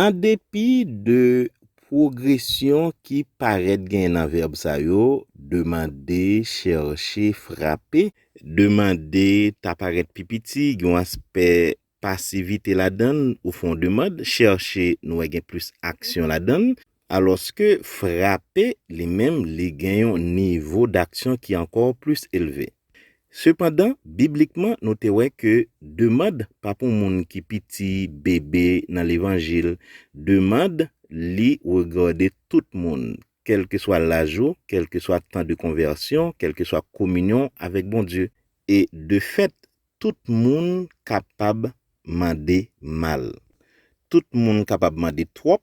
An depi de pwogresyon ki parèt genyen nan vèb sa yo, demande, chèche, frape, demande ta parèt pi piti, gen yon aspè pasivite ladan l, ou fè yon demand, chèche nou wè gen plis aksyon ladan l, Alòske frape li menm li gen yon nivo daksyon ki ankò plis elve. Sepandan, biblikman nou te wè ke demand pa pou moun ki piti, bebe, nan levanjil, demand li regade tout moun, kèlkeswa laj ou, kèlkeswa tan de konvèsyon, kèlkeswa kominyon w avèk Bondye. E de fèt, tout moun kapab mande mal. Tout moun kapab mande twòp,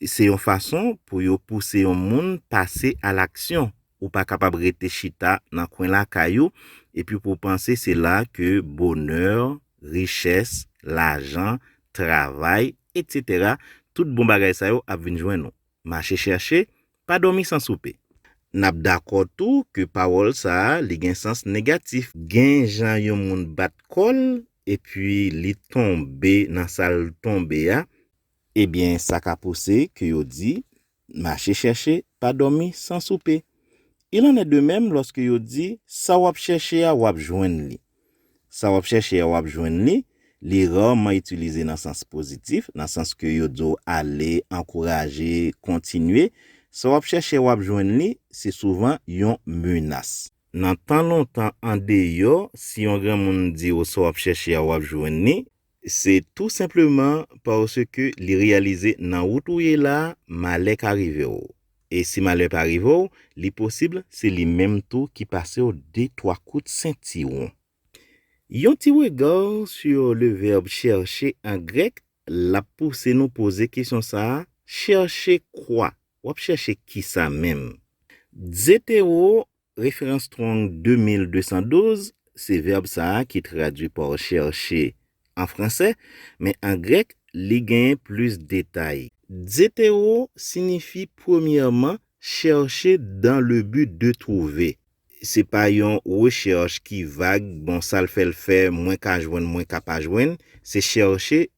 Se yon fason pou yo pouse yon moun pase alaksyon. Ou pa kapab rete chita nan kwen lakay ou epi pou w panse se la ke bonè, richès, lajan, travay, etc. Tout bon bagay sa yo ap vin jwenn ou. Mache chèche, pa dòmi san soupe. N ap dakò tou ke pawòl sa a li gen sans negatif. Gen jan yon moun bat kò l epi li tonbe nan sa l tonbe a, Ebyen sa ka pouse ke yo di, Mache chèche, pa dòmi san soupe. Il en est de même lòske yo di, Sa w ap chèche a, w ap jwenn li. Sa w ap chèche a, w ap jwenn li, li rarman itilize nan sans pozitif, nan sans ke yo di w ale, ankouraje, kontinye. Sa w ap chèche a, w ap jwenn li, se souvan yon menas. Nan tan lontan, andeyò, si yon granmoun di w sa w ap chèche a, w ap jwenn li, Se tou senpleman paske li reyalize nan wout ou ye la a, malè ka rive w. E si malè pa rive w, li posib se li menm tou ki pase w de twa kout sentiwon. Yon ti rega sur le verbe chercher an grèk la pouse nou poze kesyon sa a, Chercher quoi? W ap chèche kisa menm? Dzetewo Referans Strong 2212, Se vèb sa a ki tradui pa chèche an franse, men an grèk li genyen plis detay. Zetero sinifi premyèman chèche dan le bi de twouve. Se pa yon rechèch ki vag, bon sa l fè l fè, mwen ka jwenn, mwen ka pa jwenn, se chèche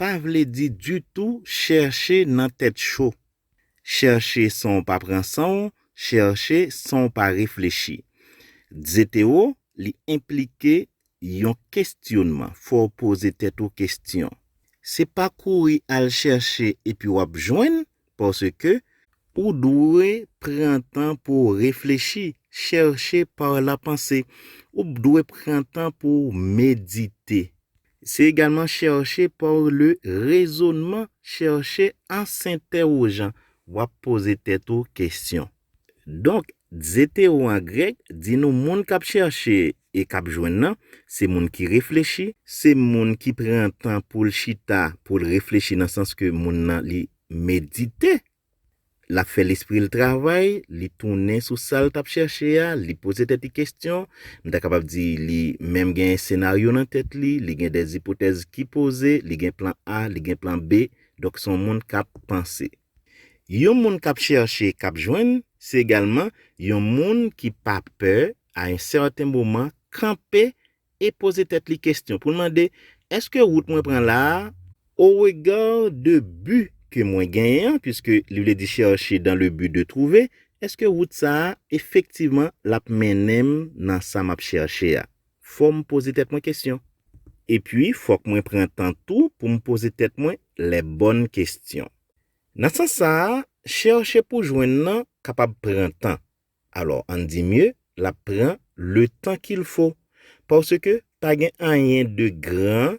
pa vle di ditou chèche nan tèt cho, chèche san w pa pran san w, chèche san w pa reflechi. Dzeteo li enplike yon kesyonman, fò w poze tèt ou kesyon. Se pa kouri al chèche epi w ap jwenn, paske ou dwe pran tan pou w reflechi, chèche par la panse, ou dwe pran tan pou w medite. Se egalman chèche par le rezonman, chèche an sentèwojan, w ap poze tèt ou kesyon. Donk, Ze te ou an grèk di nou moun k ap chèche e k ap jwenn nan, se moun ki reflechi, se moun ki pran tan pou l chita pou l reflechi nan sans ke moun nan li medite, l ap fè lespri l travay, li tounen sou sa l t ap chèche a, li poze tèt li kesyon, m ta kapab di li menm gen senaryo nan tèt li, li gen dè ipotèz ki poze, li gen plan A, li gen plan B, donk se yon moun k ap panse. Yon moun k ap chèche, k ap jwenn, se egalman yon moun ki pa pè, a yon sèten moman, kanpe e poze tèt li kestyon pou l mande, Èske wout mwen pran la a, au regard de but ke mwen genyen an, puiske li vle di chercher dans le but de trouver, èske wout sa a efektivman l ap mennen m nan sa m ap chèche a? fò m poze tèt mwen kesyon. Epi fòk mwen pran tan tou pou m poze tèt mwen lè bòn kesyon. Nan sans sa a, chèche pou jwenn nan kapab pran tan. Alò ann di mye l ap pran letan ki l fo. Paske pa gen anyen de gran.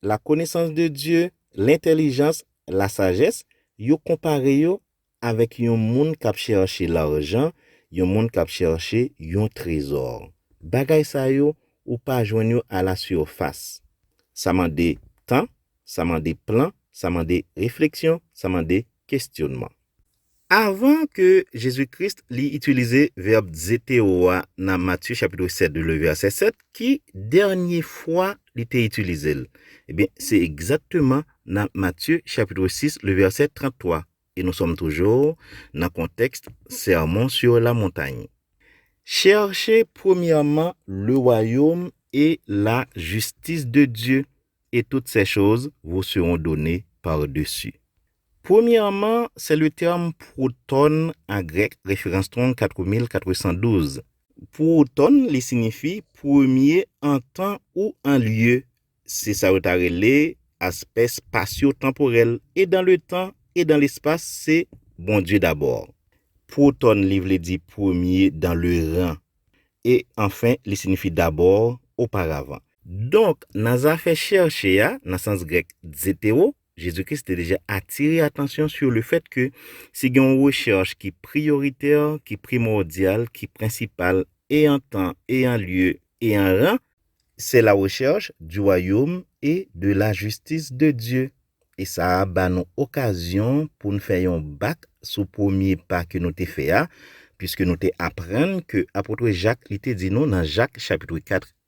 La konesans de Dye, lentelijans, la sajès, yo konpare yo avèk yon moun k ap chèche larjan, yon moun k ap chèche yon trezò. Bagay sa yo, ou pa jwenn yo a la sirfas. Sa mande tan, sa mande plan, sa mande refleksyon, sa mande kestyonnman. Avan ke Jezi Kris li itilize vèb zeteo a nan Matye chapitre 7 de le vèsè 7, ki dènye fwa li te itilize l? Ebyen, se egzakteman nan Matye chapitre 6 le vèsè 33, e nou sòm toujou nan kontèks Sermon sur la montagne. Chèche premyèman le wayom e la jistis de Dye, e tout sè choz vous seront donne par dessus. Premyèman, se le tèm pwoton an grèk, referans 34412. Pwoton, li sinifi premye an tan ou an lye. Se sa yo ta rele aspè spasyo-tanporèl, e dan le tan e dan lespas se Bondye dabò. Pwoton li vle di premye dan le ran, e anfen li sinifi dabò, oparavan. Donk, nan zafè chèrche a, nan sans grèk dzetewo, Jezi Kris te deja atire atansyon sou le fèt ke si gen yon rechèch ki priyoritè, ki primòdyal, ki prensipal e an tan e an lye e an ran, se la rechèch di wayom e de la jistis de Dye, e sa a ba nou okazyon pou n fè yon bak sou premye pa ke nou te fè a, piske nou te aprann ke apotre Jak li te di nou nan Jak chapitre 4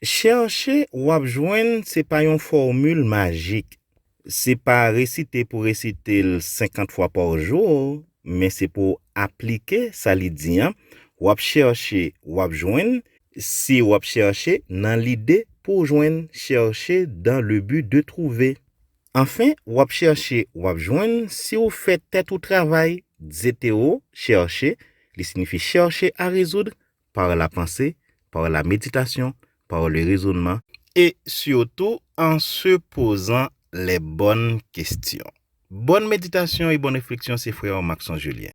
Chèche wap jwenn se pa yon fòmil majik. Se pa resite pou resite l 50 fwa pa jou men se pou w aplike sa li di an, wap chèche wap jwenn, si wap chèche nan lide pou w jwenn chèche dan le bi de twouve. Anfen wap chèche wap jwenn si w fè tèt ou travay, dze te ou, chèche, li sinifi chèche a rezoudre, par la panse, par la meditasyon, par le rezonnman, e sitou an se pozan lè bòn kestyon. Bòn meditasyon e bòn refleksyon se frè Marcson Julien.